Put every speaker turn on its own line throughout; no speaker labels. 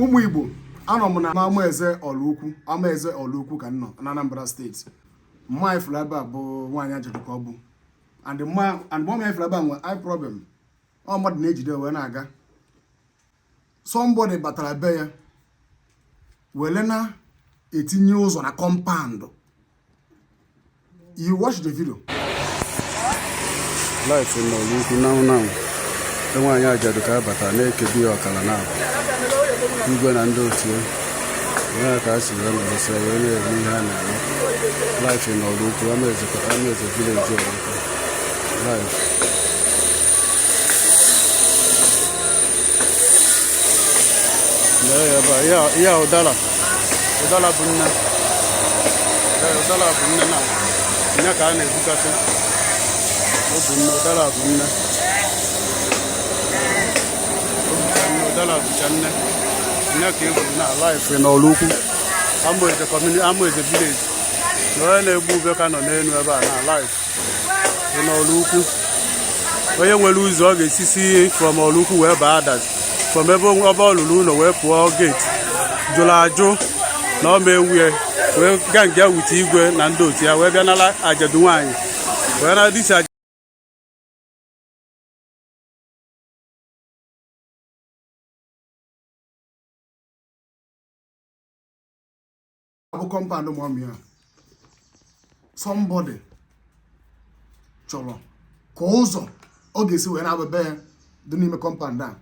ụmụ igbo anọ m na amaeze ọraukwu amaeze ọraukwu ka m nọ na anambra state mma a ị fụrụ ebe a bụ nwaanyị ajadu ka ọ bụ and mma a ị fụrụ ebe a nwere problem ọ mmadụ na-ejide wee na-aga somebody batara be ya wele na-etinye ụzọ na compound You watch the
video. Live in Ọraukwu now now. Nwaanyị ajadu ka a bata na-ekebi ọkala ana. Igwe na ndị otu ya. Ya ka a si ya na ose ya na-eme ihe a na-eme. Live in Ọraukwu Amaeze kwa Amaeze village Ọraukwu. Live. ya ụdara ụdara bụ nne ụdara bụ nne na nne ka a na-egbukasị ọ bụ nne ụdara bụ nne ụdara bụcha nne nne ka e gbu na live in ọraukwu amaeze community amaeze village na onye na-egbu ube ka nọ n'elu ebe a na live na ọraukwu onye nwere ụzọ ọ ga-esisi from ọraukwu wee baa adazi from ebe ọ lụlụ ụlọ wee pụọ gate jụrụ ajụ na ọ ma-ewe ya wee gang up with igwe na ndị otu ya wee bịa nala ajadu nwaanyị wee na this aja
a bụ compound mọmi a somebody chọrọ ka ụzọ ọ ga-esi wee na-aba be ya dị n'ime compound a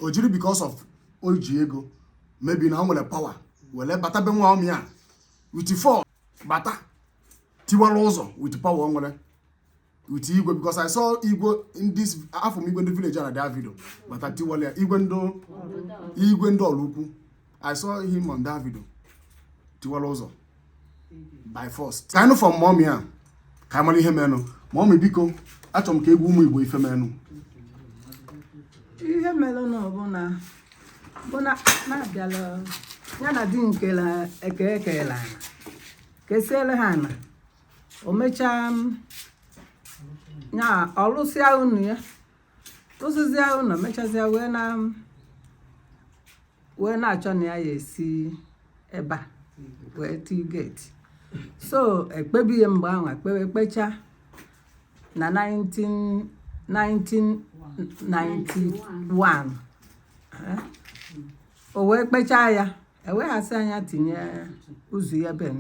o jiri because of o ji ego maybe na o nwere power were bata be mọmi a with force bata tiwara ụzọ with power o nwere with igwe because I saw igwe in this afụ m igwe ndị village na that video bata tiwala ya igwe ndị igwe ndị ọraukwu I saw him on that video tiwala ụzọ by force ka anyị fụ mọmi a ka anyị mara ihe menụ mọmi biko achọrọ m ka ị gwa ụmụ igbo ife
menụ ihe mere na ọ bụ na bụ na na-abịala ya na ndị kele eke e kele ana kesiele ha ana o mechaa ya ọ lụsịa ụnọ ya lụsịzịa ụnọ mechazịa wee na wee na-achọ na ya ya-esi ebe a wee tie gate so e kpebie ya mgbe ahụ e kpewe e kpechaa na 19 1991 eh, o wee kpechaa ya e wee sị ya nya tinye ụzọ ya be m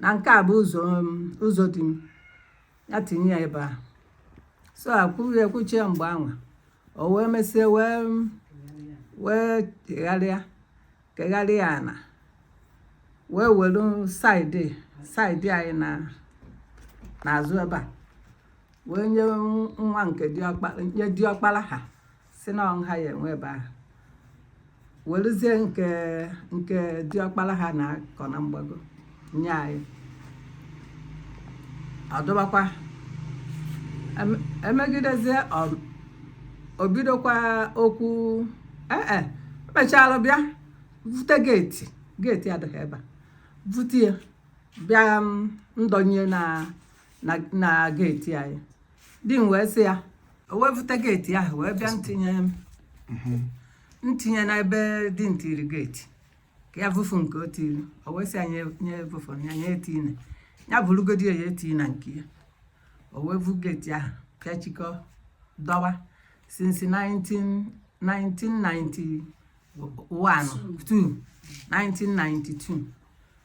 na nke a bụ ụzọ um, ụzọ di m ya tinye ya ebe a so e kwue e kwuchie mgbe anwa o wee mesie wee um, wee kegharịa kegharịa ana wee were side side anyị na n'azụ ebe a wee nye nwa nke diọkpara nye diọkpara ha sị na ọ ha ya enwe ebe ahụ weluzie nke nke diọkpara ha na-akọ na mgbago nye anyị ọ dụbakwa e megidezie o bidokwa okwu ee eh, eh, mechalụ bịa vute gate gate adịghị ebe a vute ya bịa mm, ndọnye na na gate anyị di m wee sị ya o wee vuta gate ahụ wee bịa ntinye m ntinye n'ebe di m tiri gate ka ya vufu nke o tiri o wee sị ya nye nye vufu ya nye etine ya bụrụgodi ya eti na nke ya o wee vu gate ahụ pịachikọ dọwa since 19 1991 2 1992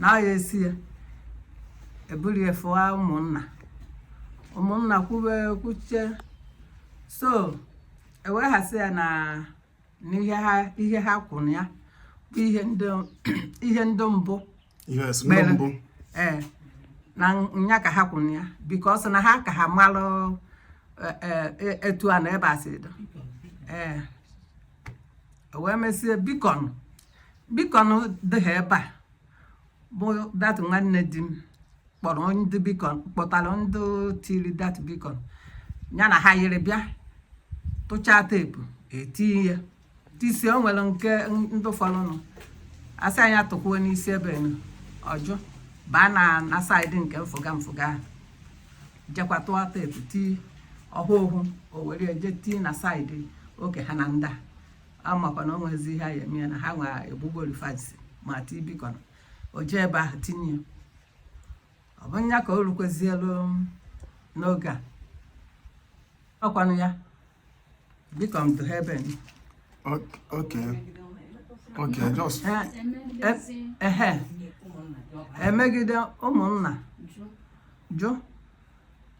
na ya esi ya eburu ya fụwa ụmụnna ụmụnna kwube kwuche so e wee ghasị ya na ihe ha kwụrụ ya bụ ihe ndị mbụ ee na nya ka ha kwụrụ ya because na ha ka ha malụ e, e, e, etu ana ebe a si do ee wee mesie beacon beacon dị ha ebe a bụ that nwanne di m kpọrọ ndị beacon kpọtara ndị tiri that beacon ya na ha yiri bịa tụchaa tape etinye ya tisie o nwere nke ndị fọrọnụ a sị nya tụkwuo n'isi ebe ọ jụ baa na na side nke mfụga mfụga ahụ jekwa tụọ tape tii ọhụụ o were je tii na side oke ha na ndị a a makwa na o nwezi ihe ha ya eme ya na ha nwa egbugburu fence ma ti beacon o jee ebe ahụ tinye ya ọ bụ nya ka o rukwezielu n'oge a ọ kwanụ ya beacon dụ ha ebe nụ
okay okay just ehe
emegide ụmụnna jụ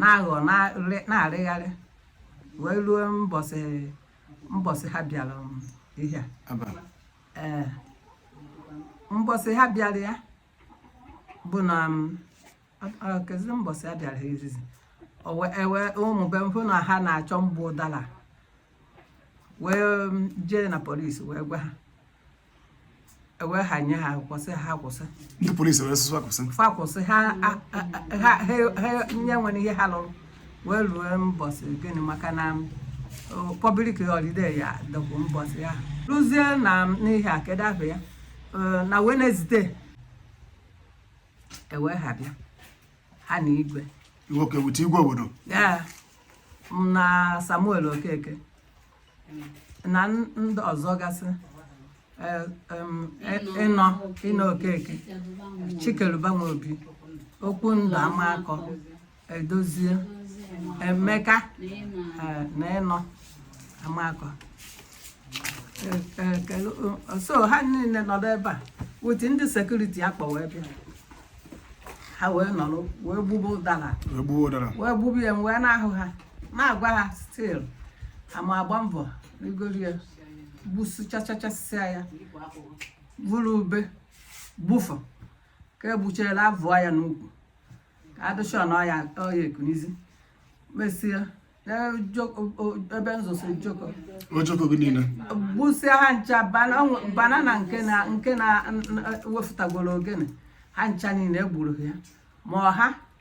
na-aghọ na-arịgharị wee ruo mbọsị mbọsị ha bịara um, ihe ee mbọsị ha bịara ya bụ na um, kezi mbọsị ha bịara ha izizi e wee ụmụ be m fụ na ha na-achọ mgbu ụdara wee um, jee na police wee gwa ha ewe ha nye ha kwụsị ha kwụsị ndị polisi wee sị
ha kwụsị fa kwụsị ha
a- a- a- ha ha- ha nye nwere ihe ha lụrụ wee ruo mbọsị gịnị maka na public holiday ya dọkwu mbọsị ya ruzie na n'ihe a kedu afa ya Eh, na wednesday ewe ha bịa ha na igwe nwoke wute igwe
obodo ya
m na samuel okeke na ndị ọzọ gasị eh, em, eh, inno inno okeke chikeluba nwobi okwundụ amakọ edozie emeka eh, na inno amakọ Eh, eh, kelu- eh, so ha niile nọrọ ebe a with ndị security ha kpọ wee bịa ha wee nọrọ wee gbube ụdara egbuo ụdara wee gbube ya m wee na-ahụ ha na-agwa ha still ha na-agba mbọ rigoro ya gbusichachachasịa ya bụrụ ube gbufa ka e gbuchara abụọ ya n'ukwu ka adụcha na ọya ọya ekunizi mesịa ebe nzọsọ ojoko
ojoko gị niile gbusịa
ha ncha banana nke na nke na wefụtagoro ogene ha ncha niile e gburu ya ma ọha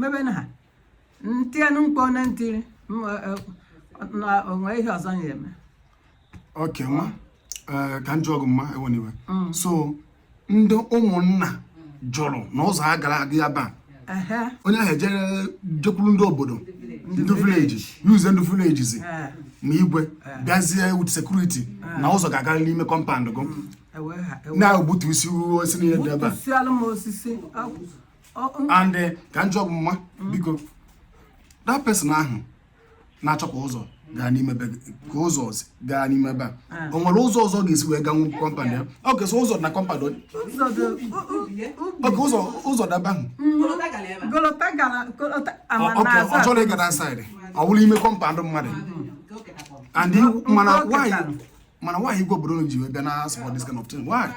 mebe na ha ntienụ mkpu na ntiri na o nwe ihe ọzọ ya-eme okay
nwa eh, ka m jụọ gị mma ewena iwe mm. so ndị ụmụnna jụrụ na ụzọ a gara aga ya bụ onye ahụ ejere jekwuru ndị obodo ndị village youths ndị villagers ma igwe bịazie with security na ụzọ ga-agarịrị n'ime compound gị na-egbutusi osisi niile dị ebe a and eh, ka m jụọ gị mma mm. biko that person ahụ na-achọ ka ụzọ gaa n'ime be ka ụzọ gaa n'ime be a ah. o nwere ụzọ ọzọ ọ ga-esi wee ganwu compound ya ọ ga-esi ụzọ na compound okay ụzọ ụzọ dị ebe ahụ ọ chọrọ ịga that side ọ bụrụ ime compound mmadụ and mana nwaanyị mana nwaanyị igwe obodo ji bịa na-support this kind of thing why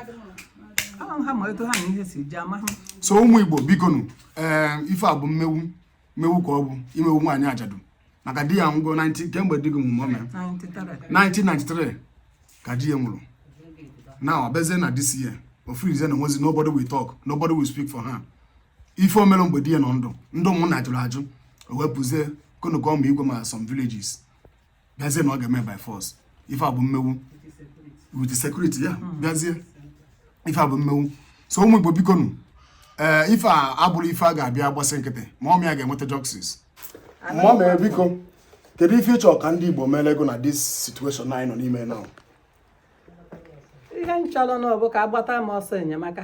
so ụmụ igbo bikonu ee eh, ife a bụ mmewu mmewu ka ọ bụ imewu nwaanyị ajadu maka di ya nwụ kemgbe di gị nwụrụ o mee 1993 ka di ya nwụrụ na ọ bịazie na this year o feelzie na o nwezi nobody will talk nobody will speak for her ife o mere mgbe di ya nọ ndụ ndị ụmụnna jụrụ ajụ o wepụzie konokom igwe ma some villagers bịazie na ọ ga-eme by force ife a bụ mmewu with security ya hmm. bịazie ife a bụ mmewu so ụmụ Igbo biko nụ ee eh, ife a abụrọ ife a ga-abịa gbasị nkịtị mummy a ga-enweta justice mummy biko kedu ife ị chọ ka ndị Igbo meere gị na this situation anyị nọ n'ime now ihe
m chọrọ na ọ bụ ka a gbata m ọsọ enyemaka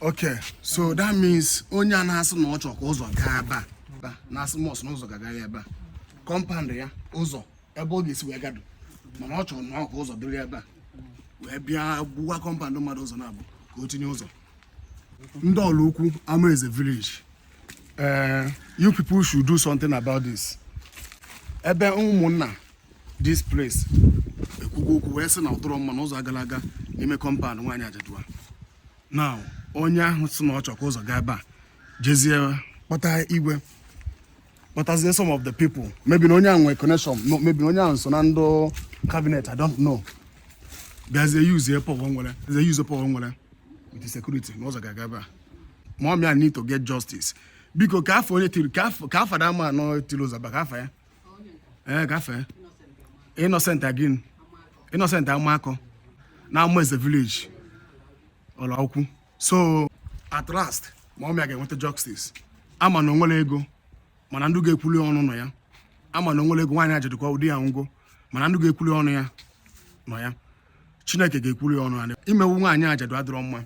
Okay, so that means onye a na-asị na ọ chọrọ ka ụzọ gaa ebe a na-asị must na ụzọ ga-aga ebe a compound ya ụzọ ebe ọ ga-esi wee gaa dụ mana ọ chọrọ na ọ ka ụzọ dịrị ebe a wee bịa gbuwaa compound mmadụ ụzọ naabọ ka o tinye ụzọ ndị Oraukwu Amaeze village eh, you people should do something about this ebe ụmụnna this place ekwugo okwu wee sị na ọ dụrọ mma na ụzọ agala aga n'ime compound nwaanyị ajadu a na onye ahụ sị na ọ chọ ka ụzọ gaa ebe a jezie kpọta igwe kpọtazie some of the people maybe na onye ahụ nwere connection maybe na onye ahụ so na ndụ cabinet i don't know bịazie use power o nwere with security na ụzọ ga-aga ebe a mummy a need to get justice biko kee afa onye tiri kee afa that man ahụ tiri ụzọ ebe a kee afa ya ee eh, kee afa ya Innocent gịnị Innocent Amakọ na Amaeze village Oraukwu so at last mummy a ga-enweta justice a ma na o nwere ego mana ndị ga-ekwuru ya ọnụ nọ ya a ma na o nwere ego nwaanyị ajadu kwa ụdị ya ngwo mana ndị ga-ekwuru ya ọnụ ya nọ ya Chineke ga-ekwuru ya ọnụ ya imewu nwaanyị ajadu adịrọ mma